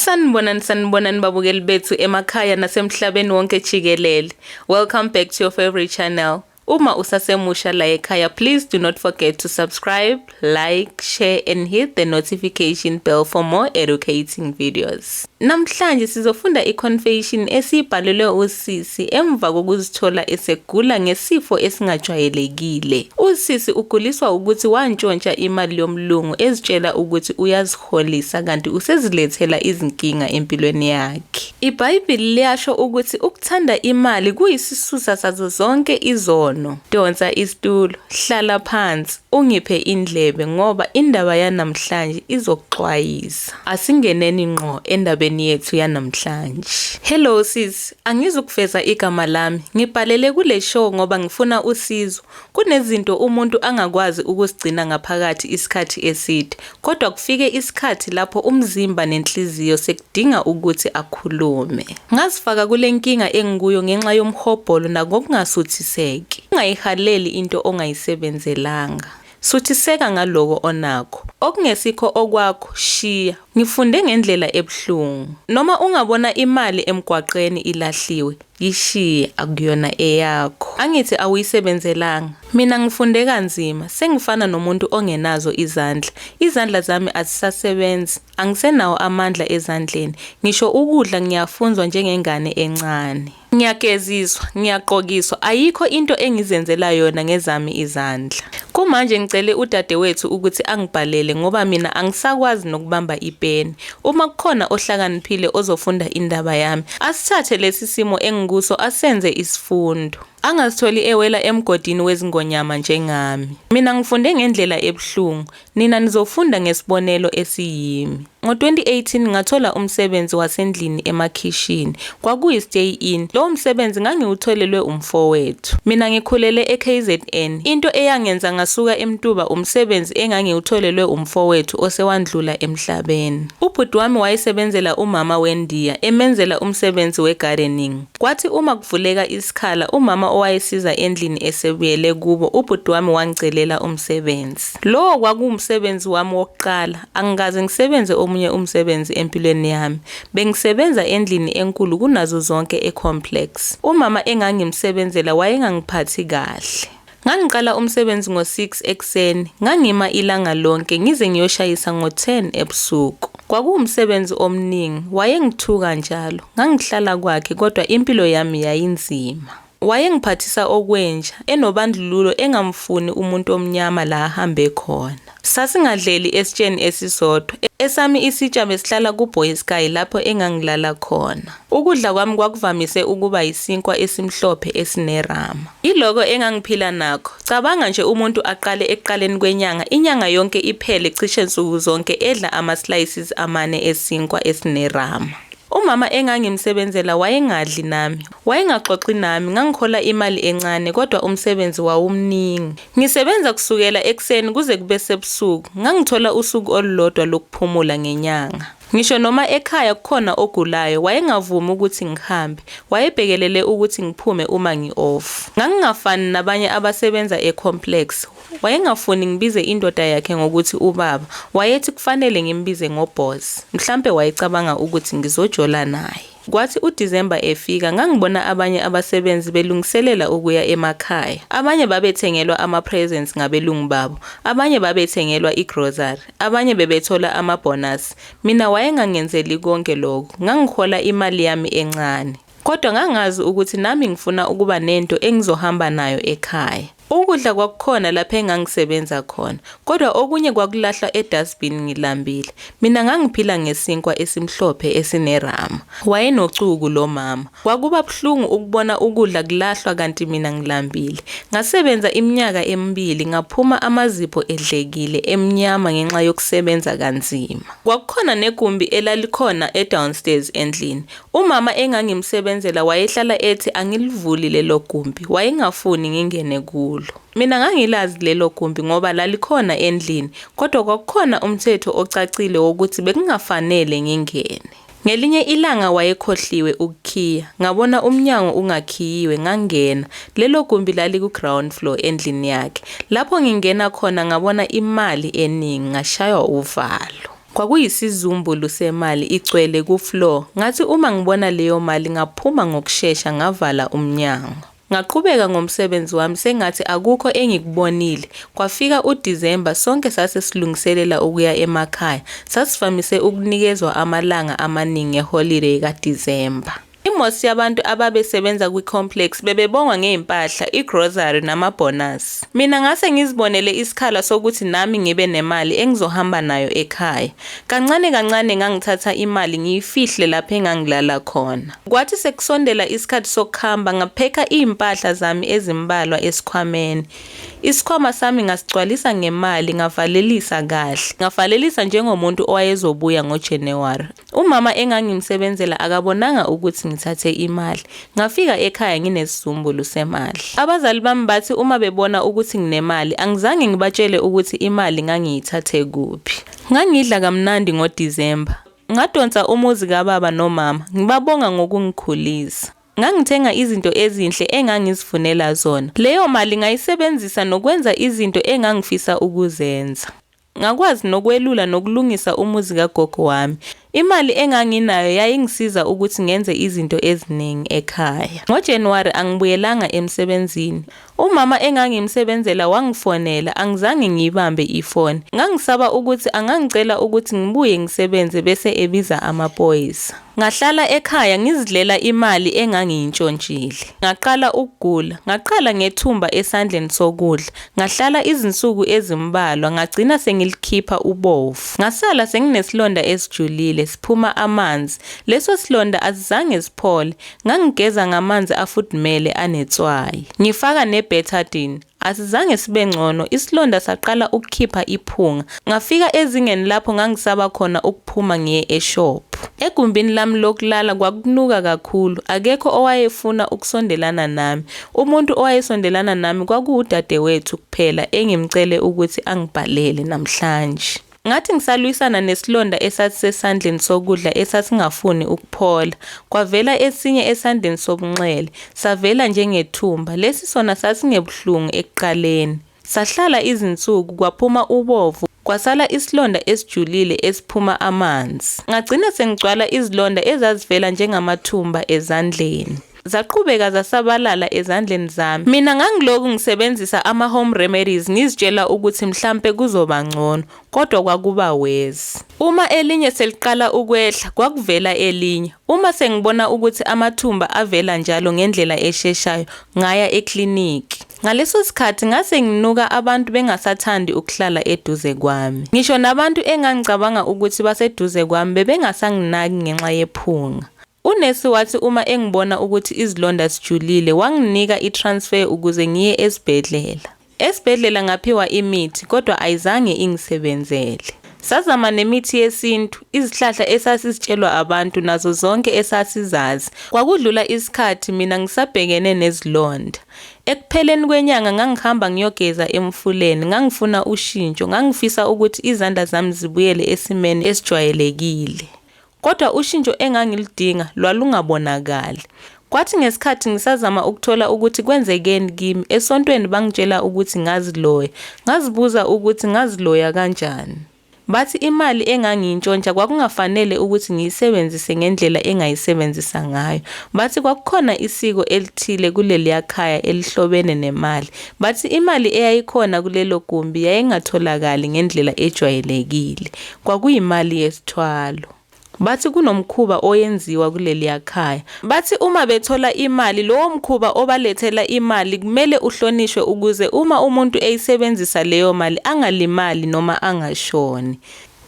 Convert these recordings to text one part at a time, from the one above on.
Sanibonani sanibonani babukeli bethu emakhaya nasemhlabeni wonke jikelele. Welcome back to your favorite channel. Uma usasemusha la ekhaya please do not forget to subscribe, like, share and hit the notification bell for more educating videos. Namhlanje sizofunda i-confession esiyibhalelwe usisi emva kokuzithola esegula ngesifo esingajwayelekile. Usisi uguliswa ukuthi wantshontsha imali yomlungu ezitshela ukuthi uyazi Kholisa kanti usezilethela izinkinga empilweni yakhe. IBhayibheli liyasho ukuthi ukuthanda imali kuyisisusa sazo zonke izono. Donsa isitulo, hlala phansi, ungiphe indlebe ngoba indaba yanamhlanje izokuxwayisa. Asingeneni ngqo endabeni yethu yanamhlanje. Hello sis, angizukuveza igama lami. Ngibhalele kule show ngoba ngifuna usizo. Kunezinto umuntu angakwazi ukuzigcina ngaphakathi isikhathi eside, kodwa kufike isikhathi lapho umzimba nenhliziyo sekudinga ukuthi akhulume. Ngazifaka kule nkinga engikuyo ngenxa yomhobholo nangokungasuthiseki. Ungayihaleli into ongayisebenzelanga. Suthiseka ngaloko onakho. Okungesikho okwakho, shiya. Ngifunde ngendlela ebuhlungu. Noma ungabona imali emgwaqeni ilahliwe, Yishiye akuyona eyakho. Angithi awuyisebenzelanga. Mina ngifunde kanzima, sengifana nomuntu ongenazo izandla. Izandla zami azisasebenzi, angisenawo amandla ezandleni. Ngisho ukudla ngiyafunzwa njengengane encane. Ngiyageziswa, ngiyagqokiswa, ayikho into engizenzela yona ngezami izandla. Kumanje ngicele udadewethu ukuthi angibhalele ngoba mina angisakwazi nokubamba ipeni. uma kukhona ohlakaniphile ozofunda indaba yami asithathe lesi simo engikuso asenze isifundo angazitholi ewela emgodini wezingonyama njengami mina ngifunde ngendlela ebuhlungu nina nizofunda ngesibonelo esiyimi ngo-2018 ngathola umsebenzi wasendlini emakhishini Kwakuyi-stay in. Lowo msebenzi ngangiwutholelwe umfowethu. Mina ngikhulele eKZN. Into eyangenza ngasuka eMtuba umsebenzi engangiwutholelwe umfowethu osewandlula emhlabeni. Ubhuti wami wayesebenzela umama weNdiya, emenzela umsebenzi we-gardening. Kwathi uma kuvuleka isikhala, umama owayesiza endlini esebuyele kubo, ubhuti wami wangicelela umsebenzi. Lowo kwakuwumsebenzi wami wokuqala. Angikaze ngisebenze omunye umsebenzi empilweni yami. Bengisebenza endlini enkulu kunazo zonke eComplex. Umama engangimsebenzela wayengangiphathi kahle. Ngangiqala umsebenzi ngo-6 ekuseni, ngangima ilanga lonke ngize ngiyoshayisa ngo-10 ebusuku. Kwakuwumsebenzi omningi, wayengithuka njalo. Ngangihlala kwakhe kodwa impilo yami yayinzima. Wayengiphathisa okwenja, enobandlululo engamfuni umuntu omnyama la ahambe khona. Sasingadleli esitsheni esisodwa, esami isitsha besihlala kuBoys Guy lapho engangilala khona. Ukudla kwami kwakuvamise ukuba yisinkwa esimhlophe esinerama. Yiloko engangiphila nakho. Cabanga nje umuntu aqale ekuqaleni kwenyanga, inyanga yonke iphele cishe nsuku zonke edla ama-slices amane esinkwa esinerama. Umama engangimsebenzela wayengadli nami, Wayengaxoxi nami, ngangikhola imali encane kodwa umsebenzi wawumningi. Ngisebenza kusukela ekuseni kuze kube sebusuku, ngangithola usuku olulodwa lokuphumula ngenyanga. Ngisho noma ekhaya kukhona ogulayo, wayengavumi ukuthi ngihambe, wayebhekelele ukuthi ngiphume uma ngi-off. Ngangingafani nabanye abasebenza e-complex, wayengafuni ngibize indoda yakhe ngokuthi ubaba, wayethi kufanele ngimbize ngoboss, mhlampe wayecabanga ukuthi ngizojola naye. Kwathi uDisemba efika, ngangibona abanye abasebenzi belungiselela ukuya emakhaya. Abanye babethengelwa ama-presents ngabelungu babo, abanye babethengelwa i-grocery, abanye bebethola amabhonasi. Mina wayengangenzeli konke lokho, ngangihola imali yami encane. Kodwa ngangazi ukuthi nami ngifuna ukuba nento engizohamba nayo ekhaya. Ukudla kwakukhona lapho engangisebenza khona, kodwa okunye kwakulahlwa edustbin ngilambile. Mina ngangiphila ngesinkwa esimhlophe esinerama. Wayenocuku lo mama. Kwakuba buhlungu ukubona ukudla kulahlwa kanti mina ngilambile. Ngasebenza iminyaka emibili ngaphuma amazipho edlekile, emnyama ngenxa yokusebenza kanzima. Kwakukhona negumbi elalikhona edownstairs endlini. Umama engangimsebenzela wayehlala ethi angilivuli lelo gumbi, wayengafuni ngingene kulo. Mina ngangilazi lelo gumbi ngoba lalikhona endlini, kodwa kwakukhona umthetho ocacile wokuthi bekungafanele ngingene. Ngelinye ilanga wayekhohliwe ukukhiya, ngabona umnyango ungakhiyiwe, ngangena. Lelo gumbi laliku-ground floor endlini yakhe. Lapho ngingena khona ngabona imali eningi, ngashaywa uvalo. Kwakuyisizumbulu semali igcwele ku floor ngathi uma ngibona leyo mali ngaphuma ngokushesha ngavala umnyango. Ngaqhubeka ngomsebenzi wami sengathi akukho engikubonile, kwafika u December sonke sase silungiselela ukuya emakhaya, sasivamise ukunikezwa amalanga amaningi e holiday ka December. I-most yabantu ababesebenza kwi-complex bebebongwa ngezimpahla, i-grocery nama-bonus. Mina ngase ngizibonele isikhala sokuthi nami ngibe nemali engizohamba nayo ekhaya. Kancane kancane ngangithatha imali ngiyifihle lapho engangilala khona. Kwathi sekusondela isikhathi sokuhamba ngaphekha izimpahla zami ezimbalwa esikhwameni. Isikhwama sami ngasigcwalisa ngemali ngavalelisa kahle. Ngavalelisa njengomuntu owayezobuya ngoJanuary. Umama engangimsebenzela akabonanga ukuthi ngithathe imali. Ngafika ekhaya nginesizumbulu semali. Abazali bami bathi uma bebona ukuthi nginemali, angizange ngibatshele ukuthi imali ngangiyithathe kuphi. Ngangidla kamnandi ngoDisemba. Ngadonsa umuzi kababa nomama, ngibabonga ngokungikhulisa. Ngangithenga izinto ezinhle engangizifunela zona. Leyo mali ngayisebenzisa nokwenza izinto engangifisa ukuzenza. Ngakwazi nokwelula nokulungisa umuzi kagogo wami. Imali enganginayo yayingisiza ukuthi ngenze izinto eziningi ekhaya. NgoJanuwari angibuyelanga emsebenzini. Umama engangimsebenzela wangifonela, angizange ngiyibambe ifoni. Ngangisaba ukuthi angangicela ukuthi ngibuye ngisebenze bese ebiza amaphoyisa. Ngahlala ekhaya ngizidlela imali engangiyintshontshile. Ngaqala ukugula. Ngaqala ngethumba esandleni sokudla. Ngahlala izinsuku ezimbalwa, ngagcina sengilikhipha ubovu. Ngasala senginesilonda esijulile, siphuma amanzi. Leso silonda asizange siphole. Ngangigeza ngamanzi afudumele anetswayi. Ngifaka ne-betadine. Asizange sibe ngcono, isilonda saqala ukukhipha iphunga. Ngafika ezingeni lapho ngangisaba khona ukuphuma ngiye eshophu. Egumbini lami lokulala kwakunuka kakhulu, akekho owayefuna ukusondelana nami. Umuntu owayesondelana nami kwakuwudadewethu kuphela engimcele ukuthi angibhalele namhlanje. Ngathi ngisalwisana nesilonda esasisesandleni sokudla esasingafuni ukuphola. Kwavela esinye esandleni sobunxele, savela njengethumba. Lesi sona sasingebuhlungu ekuqaleni. Sahlala izinsuku, kwaphuma ubovu, kwasala isilonda esijulile esiphuma amanzi. Ngagcina sengigcwala izilonda ezazivela njengamathumba ezandleni. zaqhubeka zasabalala ezandleni zami. Mina ngangiloku ngisebenzisa ama-home remedies ngizitshela ukuthi mhlampe kuzoba ngcono, kodwa kwakuba worse. Uma elinye seliqala ukwehla, kwakuvela elinye. Uma sengibona ukuthi amathumba avela njalo ngendlela esheshayo, ngaya ekliniki. Ngaleso sikhathi ngase nginuka abantu bengasathandi ukuhlala eduze kwami. Ngisho nabantu engangicabanga ukuthi baseduze kwami bebengasanginaki ngenxa yephunga. Unesi wathi uma engibona ukuthi izilonda zijulile wanginika i-transfer ukuze ngiye esibhedlela. Esibhedlela ngaphiwa imithi kodwa ayizange ingisebenzele. Sazama nemithi yesintu, izihlahla esasizitshelwa abantu nazo zonke esasizazi. Kwakudlula isikhathi mina ngisabhekene nezilonda. Ekupheleni kwenyanga ngangihamba ngiyogeza emfuleni, ngangifuna ushintsho, ngangifisa ukuthi izandla zami zibuyele esimeni esijwayelekile. Kodwa ushintsho engangiludinga lwalungabonakali. Kwathi ngesikhathi ngisazama ukuthola ukuthi kwenzekeni kimi, esontweni bangitshela ukuthi ngaziloya. Ngazibuza ukuthi ngaziloya kanjani. Bathi imali engangiyintshontsha kwakungafanele ukuthi ngiyisebenzise ngendlela engayisebenzisa ngayo. Bathi kwakukhona isiko elithile kuleliya khaya elihlobene nemali. Bathi imali eyayikhona kulelo gumbi yayingatholakali ngendlela ejwayelekile. kwakuyimali yesithwalo. Bathi kunomkhuba oyenziwa kuleliya khaya. Bathi uma bethola imali, lowo mkhuba obalethela imali kumele uhlonishwe ukuze uma umuntu eyisebenzisa leyo mali angalimali noma angashoni.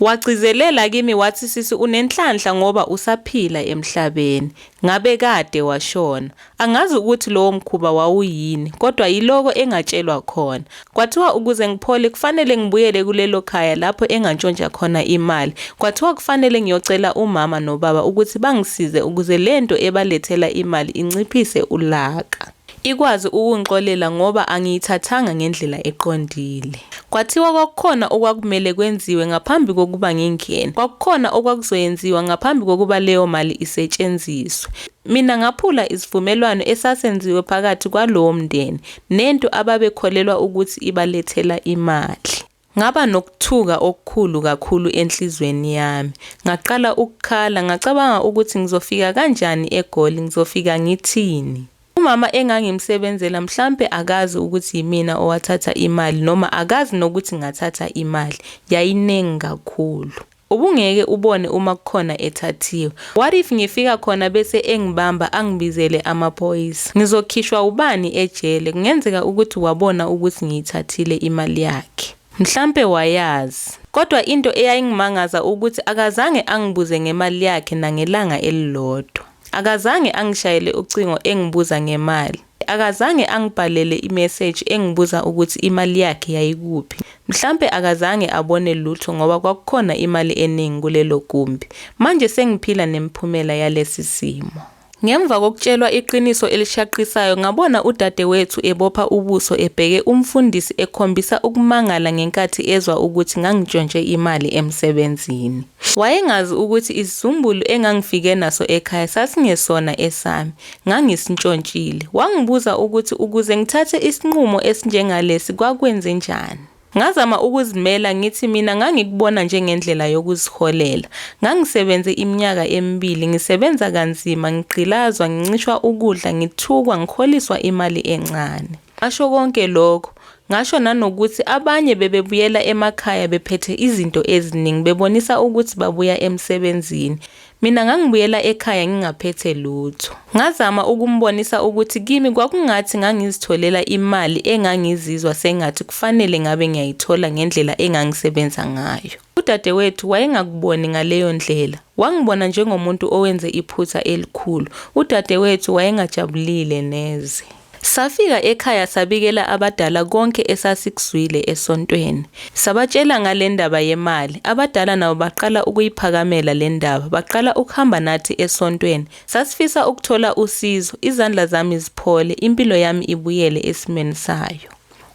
Wagcizelela kimi wathi sisi unenhlanhla ngoba usaphila emhlabeni, ngabe kade washona. Angazi ukuthi lowo mkhuba wawuyini, kodwa yiloko engatshelwa khona. Kwathiwa ukuze ngiphole kufanele ngibuyele kulelo khaya lapho engantshontsha khona imali. Kwathiwa kufanele ngiyocela umama nobaba ukuthi bangisize ukuze le nto ebalethela imali inciphise ulaka. Ikwazi ukungixolela ngoba angiyithathanga ngendlela eqondile. Kwathiwa kwakukhona okwakumele kwenziwe ngaphambi kokuba ngingene. Kwakukhona okwakuzoyenziwa ngaphambi kokuba leyo mali isetshenziswe. Mina ngaphula isivumelwano esasenziwe phakathi kwalowo mndeni nento ababekholelwa ukuthi ibalethela imali. Ngaba nokuthuka okukhulu kakhulu enhlizweni yami. Ngaqala ukukhala, ngacabanga ukuthi ngizofika kanjani eGoli, ngizofika ngithini. Umama engangimsebenzela mhlampe akazi ukuthi yimina owathatha imali noma akazi nokuthi ngathatha imali. Yayiningi kakhulu. Ubungeke ubone uma kukhona ethathiwe. What if ngifika khona bese engibamba angibizele amaphoyisa? Ngizokhishwa ubani ejele? Kungenzeka ukuthi wabona ukuthi ngiyithathile imali yakhe. Mhlampe wayazi. Kodwa into eyayingimangaza ukuthi akazange angibuze ngemali yakhe nangelanga elilodwa. Akazange angishayele ucingo engibuza ngemali. Akazange angibhalele imeseji engibuza ukuthi imali yakhe yayikuphi. Mhlampe akazange abone lutho ngoba kwakukhona imali eningi kulelo gumbi. Manje sengiphila nemiphumela yalesi simo. Ngemva kokutshelwa iqiniso elishaqisayo, ngabona udadewethu ebopha ubuso ebheke umfundisi ekhombisa ukumangala ngenkathi ezwa ukuthi ngangitshontshe imali emsebenzini. Wayengazi ukuthi isizumbulu engangifike naso ekhaya sasingesona esami. ngangisntshontshile. Wangibuza ukuthi ukuze ngithathe isinqumo esinjengalesi kwakwenzenjani. Ngazama ukuzimela ngithi mina ngangikubona njengendlela yokuziholela. Ngangisebenze iminyaka emibili ngisebenza kanzima, ngigqilazwa, ngincishwa ukudla, ngithukwa, ngiholiswa imali encane. Ngasho konke lokho, ngasho nanokuthi abanye bebebuyela emakhaya bephethe izinto eziningi bebonisa ukuthi babuya emsebenzini. Mina ngangibuyela ekhaya ngingaphethe lutho. Ngazama ukumbonisa ukuthi kimi kwakungathi ngangizitholela imali engangizizwa sengathi kufanele ngabe ngiyayithola ngendlela engangisebenza ngayo. Udadewethu wayengakuboni ngaleyo ndlela. Wangibona njengomuntu owenze iphutha elikhulu. Udadewethu wayengajabulile neze. Safika ekhaya sabikela abadala konke esasikuzwile esontweni. Sabatshela ngale ndaba yemali. Abadala nabo baqala ukuyiphakamela le ndaba. Baqala ukuhamba nathi esontweni. Sasifisa ukuthola usizo, izandla zami ziphole, impilo yami ibuyele esimeni sayo.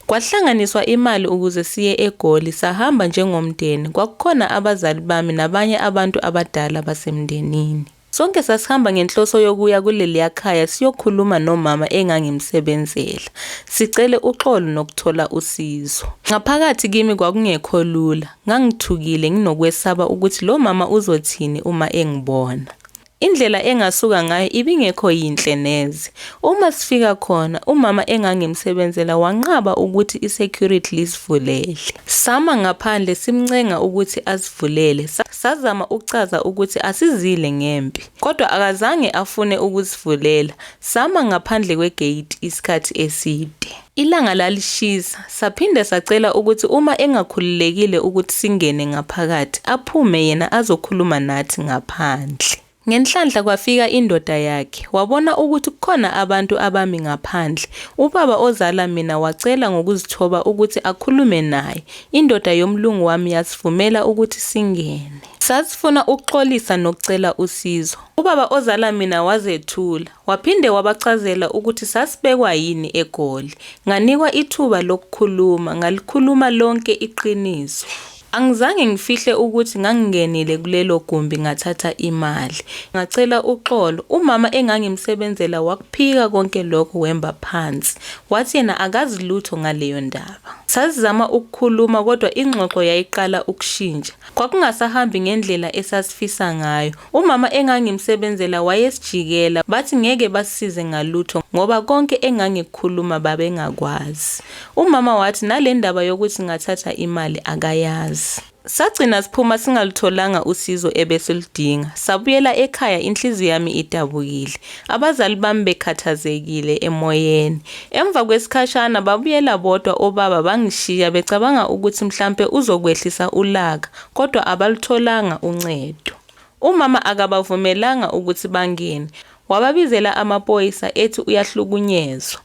Kwahlanganiswa imali ukuze siye eGoli, sahamba njengomndeni. Kwakukhona abazali bami nabanye abantu abadala basemndenini. Sonke sasihamba ngenhloso yokuya kuleliya khaya siyokhuluma nomama engangimsebenzela, sicele uxolo nokuthola usizo. Ngaphakathi kimi kwakungekho lula, ngangithukile nginokwesaba ukuthi lo mama uzothini uma engibona. Indlela engasuka ngayo ibingekho yinhle neze. Uma sifika khona, umama engangimsebenzela wanqaba ukuthi i-security lisivulele. Sama ngaphandle simncenga ukuthi asivulele. Sazama ukuchaza ukuthi asizile ngempi, kodwa akazange afune ukusivulela, sama ngaphandle kwegeyidi isikhathi eside. Ilanga lalishisa, saphinde sacela ukuthi uma engakhululekile ukuthi singene ngaphakathi, aphume yena azokhuluma nathi ngaphandle. Ngenhlanhla kwafika indoda yakhe. Wabona ukuthi kukhona abantu abami ngaphandle. Ubaba ozala mina wacela ngokuzithoba ukuthi akhulume naye. Indoda yomlungu wami yasivumela ukuthi singene. Sasifuna ukuxolisa nokucela usizo. Ubaba ozala mina wazethula. Waphinde wabachazela ukuthi sasibekwa yini eGoli. Nganikwa ithuba lokukhuluma. Ngalikhuluma lonke iqiniso. Angizange ngifihle ukuthi ngangingenile kulelo gumbi ngathatha imali. Ngacela uxolo. Umama engangimsebenzela wakuphika konke lokho wemba phansi. Wathi yena akazi lutho ngaleyo ndaba. Sasizama ukukhuluma kodwa ingxoxo yayiqala ukushintsha. Kwakungasahambi ngendlela esasifisa ngayo. Umama engangimsebenzela wayesijikela, bathi ngeke basisize ngalutho ngoba konke engangikukhuluma babengakwazi. Umama wathi nale ndaba yokuthi ngathatha imali akayazi. Sagcina siphuma singalutholanga usizo ebesiludinga. Sabuyela ekhaya inhliziyo yami idabukile, abazali bami bekhathazekile emoyeni. Emva kwesikhashana babuyela bodwa obaba bangishiya becabanga ukuthi mhlampe uzokwehlisa ulaka kodwa abalutholanga uncedo. Umama akabavumelanga ukuthi bangene, wababizela amapoyisa ethi uyahlukunyezwa.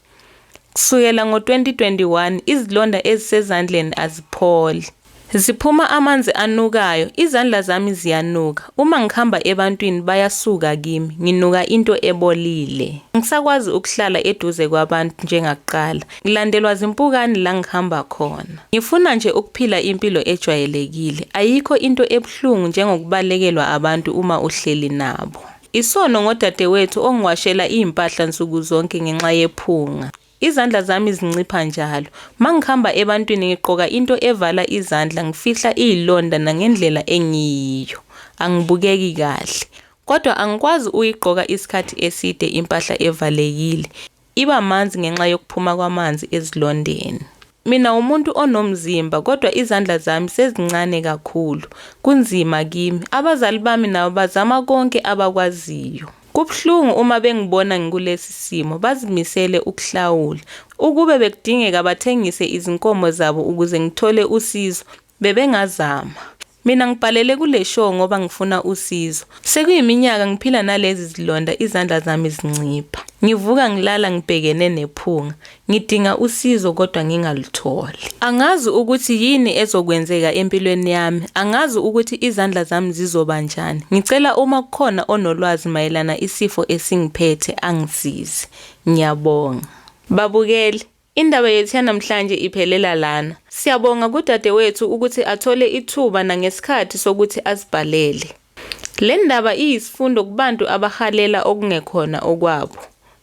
Kusukela ngo-2021 izilonda ezisezandleni azipholi. Ziphuma amanzi anukayo, izandla zami ziyanuka. Uma ngihamba ebantwini bayasuka kimi, nginuka into ebolile. Angisakwazi ukuhlala eduze kwabantu njengakuqala. Ngilandelwa zimpukani la ngihamba khona. Ngifuna nje ukuphila impilo ejwayelekile. Ayikho into ebuhlungu njengokubalekelwa abantu uma uhleli nabo. Isono ngodadewethu ongiwashela izimpahla nsuku zonke ngenxa yephunga. Izandla zami zincipha njalo. Mangihamba ebantwini ngigqoka into evala izandla ngifihla izilonda nangendlela engiyiyo. Angibukeki kahle. Kodwa angikwazi uyigqoka isikhathi eside impahla evalekile. Iba manzi ngenxa yokuphuma kwamanzi ezilondeni. Mina wumuntu onomzimba kodwa izandla zami sezincane kakhulu. Kunzima kimi. Abazali bami nabo bazama konke abakwaziyo. Kubuhlungu uma bengibona ngikulesi simo. Bazimisele ukuhlawula. Ukube bekudingeka bathengise izinkomo zabo ukuze ngithole usizo, bebengazama. Mina ngibhalele kule show ngoba ngifuna usizo. Sekuyiminyaka ngiphila nalezi zilonda izandla zami zincipha. Ngivuka ngilala ngibhekene nephunga. Ngidinga usizo kodwa ngingalutholi. Angazi ukuthi yini ezokwenzeka empilweni yami. Angazi ukuthi izandla zami zizoba njani. Ngicela uma kukhona onolwazi mayelana isifo esingiphethe angisize. Ngiyabonga. Babukeli, Indaba yethu yanamhlanje iphelela lana. Siyabonga kudadewethu ukuthi athole ithuba nangesikhathi sokuthi asibhalele. Le ndaba iyisifundo kubantu abahalela okungekhona okwabo.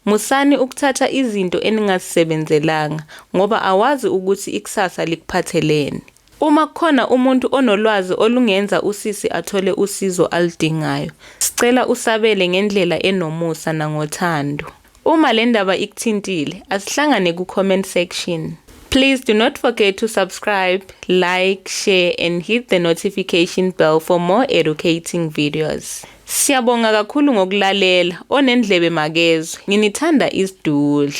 Musani ukuthatha izinto eningazisebenzelanga ngoba awazi ukuthi ikusasa likuphatheleni. Uma kukhona umuntu onolwazi olungenza usisi athole usizo aludingayo, sicela usabele ngendlela enomusa nangothando. Uma le ndaba ikuthintile, asihlangane ku-comment section. Please do not forget to subscribe, like, share and hit the notification bell for more educating videos. Siyabonga kakhulu ngokulalela, onendlebe makezwe. Nginithanda isidudla.